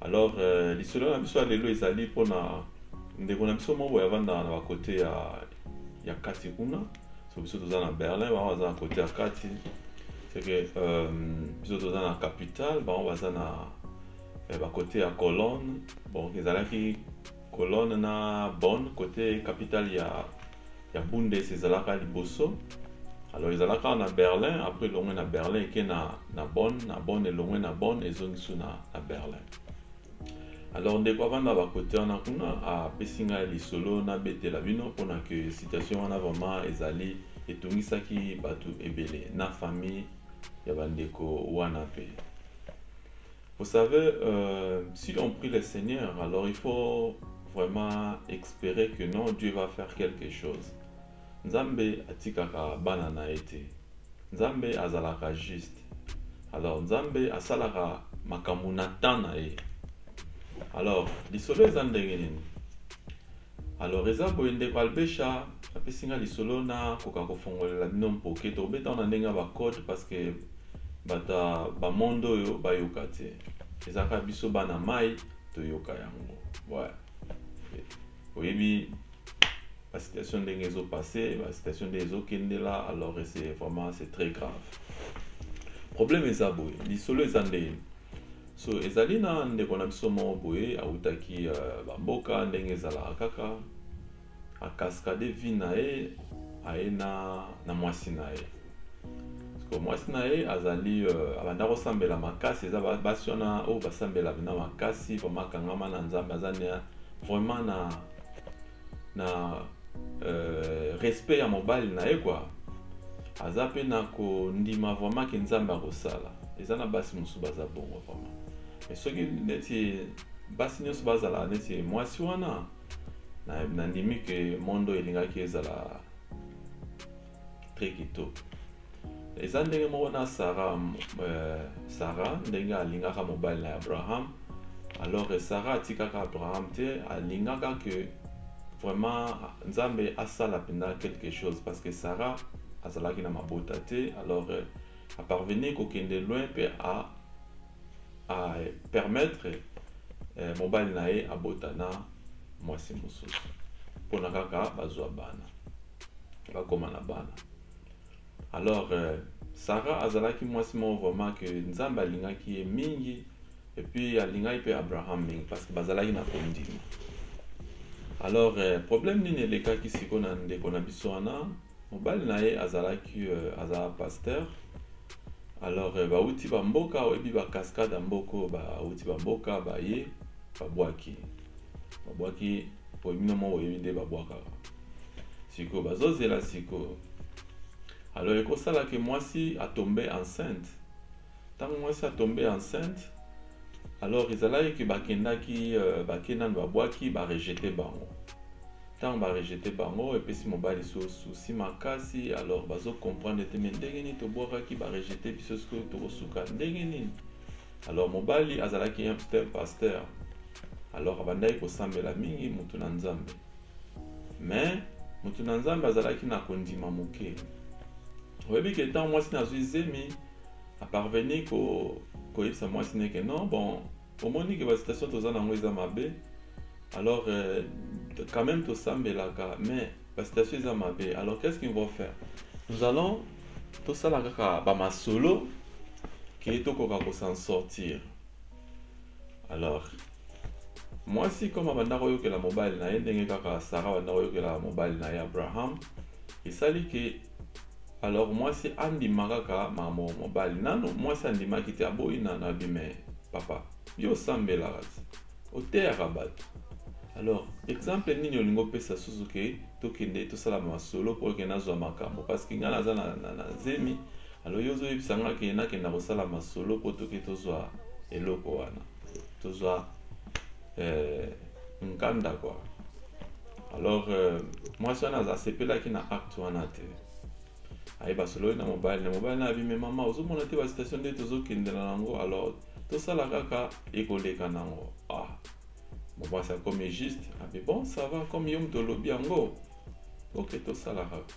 alors euh, lisolo na biso ya lelo ezali mpona ndeko na biso moko yavandaka na bakote ya, ya kati kuna so biso toza na berlin bango baza na kote ya kati seke euh, biso toza na capitale bango baza na eh, bakote ya colonne bon ezalaki Cologne na Bonn kote capitale ya, ya Bundes ezalaka liboso alors ezalaka na Berlin après elongwe na Berlin eke na, na Bonn na Bonn elongwe na Bonn ezongi su na, na Berlin alors ndeko avanda bakote wana kuna apesi ngai lisolo nabetela bino mpona ke situation wana vraiment ezali etungisaki bato ebele na famille ya bandeko wana mpe Vous savez, euh, si on prie le Seigneur, alors il faut vraiment espérer que non, Dieu va faire quelque chose. Nzambe atikaka bana na ye te. Nzambe azalaka juste. Alors Nzambe asalaka makambo na temps na ye. Alors lisolo eza ndenge nini? Alors eza boye ndeko Albesha apesi nga lisolo na koka kofongolela bino mpoke tokobeta na ndenge ya ba code parce que bato ya bamonde oyo bayoka te eza kaka biso bana mai toyoka yango ouais. oyebi basituation ndenge ezopasse basituation ndenge ezokendela alors c'est vraiment c'est très grave problème eza boye lisolo eza ndenge so ezali na ndeko na biso moko boye awutaki uh, bamboka ndenge ezalaka kaka akaskade vi na ye aye na, na mwasi na ye siko mwasi na ye azali uh, abanda kosambela makasi eza basi wana oyo basambela na makasi vraimen akangama na nzambe aza na vraiment na na euh, respect ya mobali na ye kwa aza mpe na kondima vraiment ke nzambe akosala eza na basi mosusu baza bongo vraiment mais soki neti basi nyonso bazala neti mwasi wana nandimi ke mondo elingaki ezala très kitoko eza ndenge moko na sara euh, sara ndenge alingaka mobali na abraham alors que sara atikaka abraham te alingaka que vraiment nzambe asala mpenza quelque chose parce que sara azalaki na mabota te alors euh, aparvenir kokende loin mpe a a permettre eh, mobali na ye abota na mwasi mosusu mpona kaka bazwa bana bakoma na bana alors eh, sarah azalaki mwasi moko vraiment ke nzambe alingaki ye mingi epuis alingaki mpe abraham mingi parce que bazalaki na kondima alors eh, problème nini elekaki siko na ndeko na biso wana mobali na ye azalaki euh, azala pasteur alors euh, bauti bamboka oyebi bacascade ya mboka oyo bauti bamboka baye babwaki babwaki oyo bino moko oyebi nde babwakaka sikoyo bazozela sikoyo alors ekosala ke mwasi atombe enceinte ntango mwasi atombe enceinte alors ezalaki ke bakendaki euh, bake nano babwaki barejete bango Tango ba rejete bango epesi mobali so souci makasi alors bazo comprendre te mais ndenge nini tobwakaki ba rejete biso sikoyo tokosuka ndenge nini alors mobali azalaki un psteur pasteur alors abandaki kosambela mingi motu na nzambe mais motu na nzambe azalaki na kondima moke oyebi ke ntango mwasi nazwi zemi aparveni koyebisa ko mwasi neke non bon omoni ke ba situation toza nango eza mabe alors euh, quand même tosambelaka mais ba situation eza mabe alors qu'est ce qu'ils vont faire nous allons tosala kaka ba masolo ke tokoka ko s'en sortir alors mwasi comme abanda koyokela mobali na ye ndenge kaka sara abanda koyokela mobali na ye abraham esali ke alors mwasi andima kaka makambo ya mobali nano mwasi andimaki te aboyi nano abi me papa yo osambelaka ti oteyaka bato alors exemple nini olingi opesa susu ke tokende tosala masolo mpo eke nazwa makambo parce que ngai naza na, na, na zemi alo yo ozoyebisa ngai ke nakenda kosala masolo mpo toke tozwa eloko wana tozwa eh, nkanda kwa alors euh, mwasi wana aza asepelaki na acte wana te aye basololi na mobali na mobali na abime mama ozomona te basitation nde tozokendela nango alors tosala kaka ekoleka nango ah mobasi akomi juste abi bon ça va comme yo moto olobi yango ok tosala kaka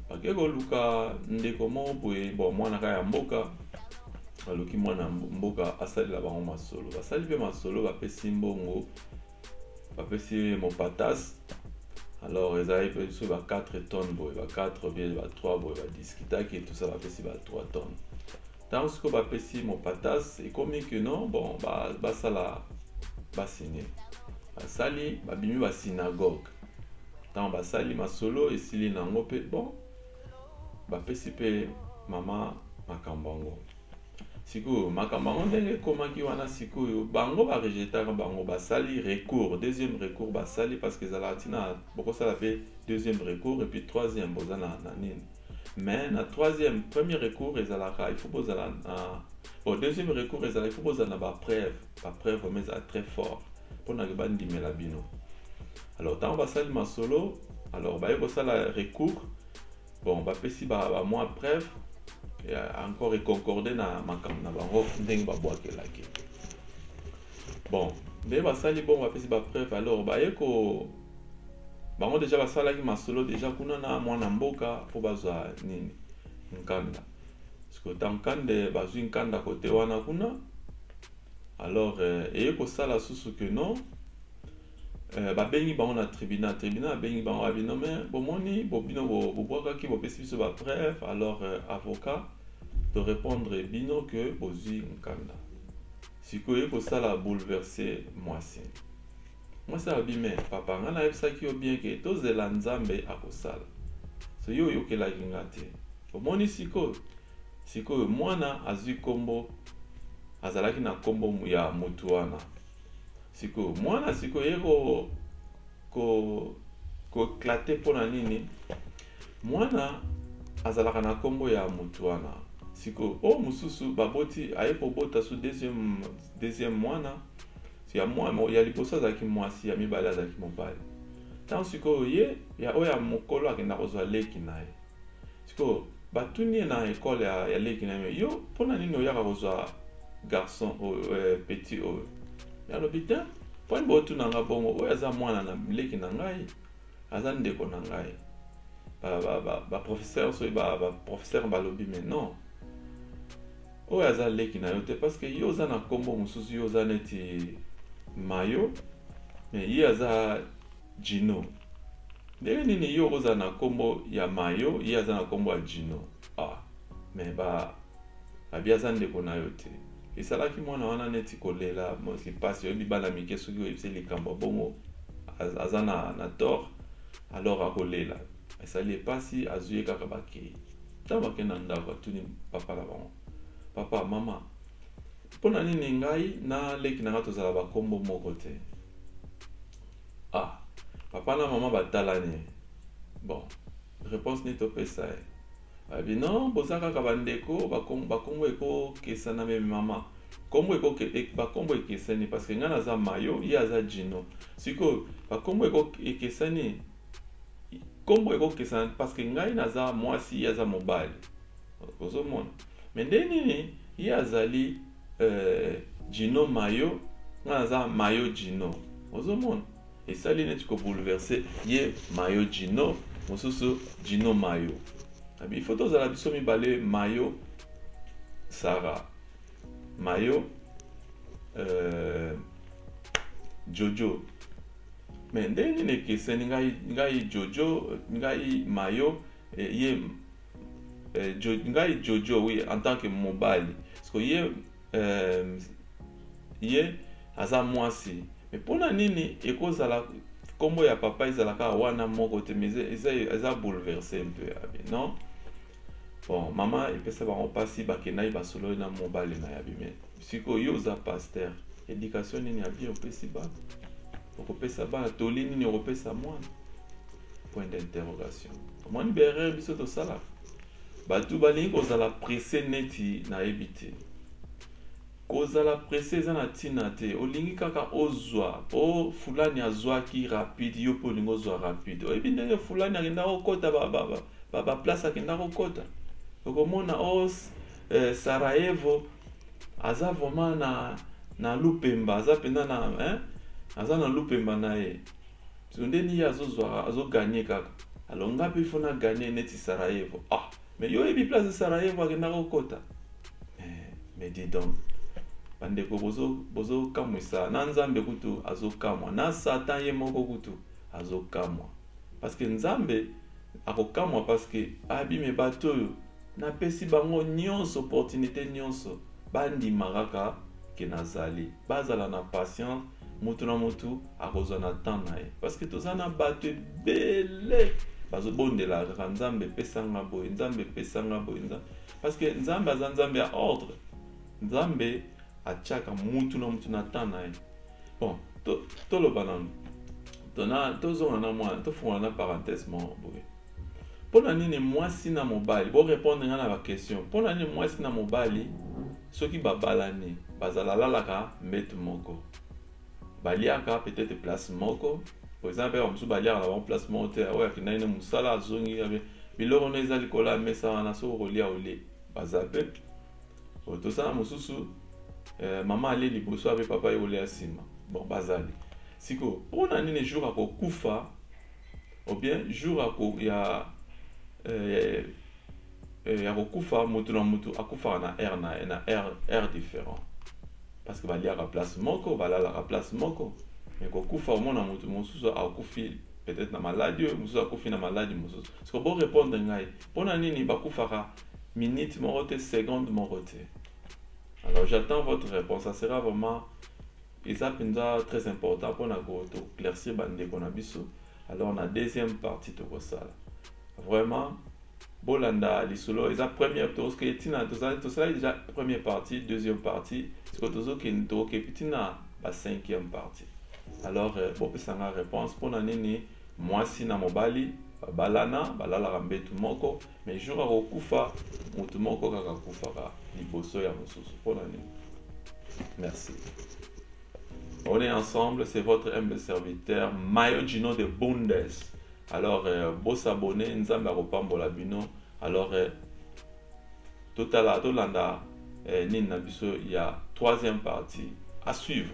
bake koluka ndeko moko boye bon mwana kaka ya mboka aluki mwana mboka asalela bango masolo basali mpe masolo bapesi mbongo bapesi ye mopatas alors ezalaki mpe biso ba 4 tonnes boye ba 4 bie ba 3 boye badiscutaki etusa bapesi ba 3 tonnes ntango sikoyo bapesi mopatas ekomi ke non bon basala basine basali babimi basinagoge ntango basali masolo esili na yango mpe bon bapesi mpe mama makambo yango sikoyo makambo yango ndenge ekomaki wana sikoyo bango barejetaka bango basali recours deuxième recours basali parce que ezalaka ntina bokosala mpe deuxième recours et puis troisième boza na, na nini mais na troisième premier recours ezalaka il faut bozala na bon deuxième recours ezala il faut bozala na bapreuve bapreuve vraimen ezala très fort mpona ke bandimela bino alors ntango basali masolo alors baye kosala recours Bon, bapesi ba, ba mwa preuve ya encore econcorde na makambo na bango ndenge babwakelaki. Bon, nde basali bongo bapesi ba preuve alors baye ko bango deja basalaki masolo deja kuna na mwana mboka mpo bazwa nini nkanda sikota nkande bazwi nkanda kote wana kuna alors euh, eye kosala susu ke non Euh, babengi bango na tribunal tribunal abengi bango abi no mais bomoni bobino bobwakaki bopesi biso bapreuve alors euh, avocat torépondre bino ke bozwi nkanda sikoyo ekosala bouleverse mwasi mwasi alobi me papa ngai nayebisaki yo bien ke tozela nzambe akosala so yo oyokelaki nga te omoni sikoyo sikoyo mwana azwi nkombo azalaki na nkombo ya motu wana sikoyo mwana sikoyo ye ko ko koeklate mpo na nini mwana azalaka na nkombo ya motu wana sikoyo oyo mosusu baboti aye kobota so deuxième, deuxième mwana ya, mwa, ya liboso azalaki mwasi ya mibale azalaki mobali ntango sikoyo ye ya oyo ya mokolo akenda kozwa leki na ye sikoyo batuni ye na ekole ya, ya leki na ye yo mpo na nini oyaka kozwa garçon oyo eh, petit oyo ye alobi te mpo ani botuna nga bongo oyo aza mwana na leki na ngai aza ndeko na ngai baprofesseur ba, ba, ba soki baprofesseur ba balobi mais non oyo aza leki na yo te parce que yo oza na nkombo mosusu yo oza neti mayo mais ye aza Djino ndenge nini yo okozala na kombo ya mayo ye aza na kombo ya Djino ah mais ba abi aza ndeko na yo te esalaki mwana wana neti kolela mosi pasi oyebi bana mike soki oyebisi likambo bongo aza na, na tort alors akolela esali epasi azwi ye kaka bakei ntango bakei na ndako atuni papa na bango papa mama mpo na nini ngai na leki na ngai tozala bakombo moko te ah papa na mama batalani bon réponse nini topesa ye abi non boza kaka bandeko bakombo ekokesana meme mama kombo e, bakombo ekesani parce que ngai naza mayo ye aza jino sikoyo bakombo ekesani kombo ekokesana parce que ngai naza mwasi ye aza mobali ozomona me nde nini ye azali euh, jino mayo nga naza mayo jino ozomona esali neti kobouleverse ye mayo jino mosusu jino mayo bifo tozala biso mibale mayo sara mayo euh, jojo me nde nini ekeseni ngai, ngai jojo ngai mayo eh, ye euh, ngai jojo oui en tant que mobali parceke ye euh, ye aza mwasi me mpo na nini ekozala nkombo ya papa ezala kaka wana moko te mais eza bouleverse mpe yabi non bon mama epesa bango mpasi bakendaki basololi na mobali na yabi me siko yo oza pasteur education nini ya bien opesi bana okopesa bana toli nini okopesa mwana point d'interrogation omoni baerreur biso tosalaka bato balingi kozala presse neti nayebi te kozala presse eza na ntina te olingi kaka ozwa mpo fulani azwaki rapide yo mpe olingi ozwa rapide oyebi ndenge fulani akenda kokota baplace akenda kokota okomona o oh, eh, sarajevo aza vraiment na na lupemba aza mpenza na hein? aza na lupemba na ye so nde niye azozwaka azoganye kaka alors nga mpe fo na ganye neti sarajevo ah mais yo oyebi place sarajevo akendaka kokota eh, mais dis donc bandeko bozokamwisa bozo na nzambe kutu azokamwa na satan ye moko kutu azokamwa parce que nzambe akokamwa parce que abime bato oyo Na pesi bango nionso opportunite nionso ba ndima kaka que na zali. Ba zala na patience mutu na mutu ako zwa na temps na ye. Parce que toza na batu ebele bazo bondelaka kaka nzambe pesa nga boye nzambe pesa nga boye nzambe parce que nzambe aza nzambe ya ordre. Nzambe atiaka mutu na mutu na temps na ye. Bon to toloba nanu. Tona tozonga na mwana tofungola na parenthèse moko boye. mpo na nini mwasi na mobali borepondre ngai na baquestion mpo na nini mwasi na mobali soki babalani bazala lalaka mbete moko baliaka peut-être place moko po eza mpe bamosusu baliaka na bango place moko te oyo akendaki ne mosala azongi biloko no eza likolo ya mesa wana soki okolia olie baza mpe tosala mosusu eh, mama alie liboso ape papa ye kolia nsima bon bazali sikoyo mpo na nini jour akokufa ou bien jour ya ko ya eh, eh, ya kokufa mutu na mutu akufaka na air na ye na air air différent parce que baliaka place moko balalaka place moko mais kokufa omona mutu mosusu akufi peut-être na maladi oyo mosusu akufi na maladi mosusu siko borépondre ngai mpo na nini bakufaka minute moko te seconde moko te alors j'attends votre réponse ça sera vraiment Eza mpenza très important mpo na ko to claircir ba ndeko na biso. Alors na deuxième partie tokosala. Vraiment bolanda lisolo eza première tozoke ntina tosalaki déjà première partie deuxième partie siko tozokende tokokepi ntina ba cinquième partie alors euh, bopesanga réponse mpo na nini mwasi na mobali babalana balalaka mbetu moko mais jour akokufa motu moko kaka akufaka liboso ya mosusu mpo na nini merci on est ensemble c'est votre humble serviteur mayo gino de bundes alors euh, bosabone nzambe akopambola bino alors euh, totala tolanda euh, nini na biso ya troisième partie à suivre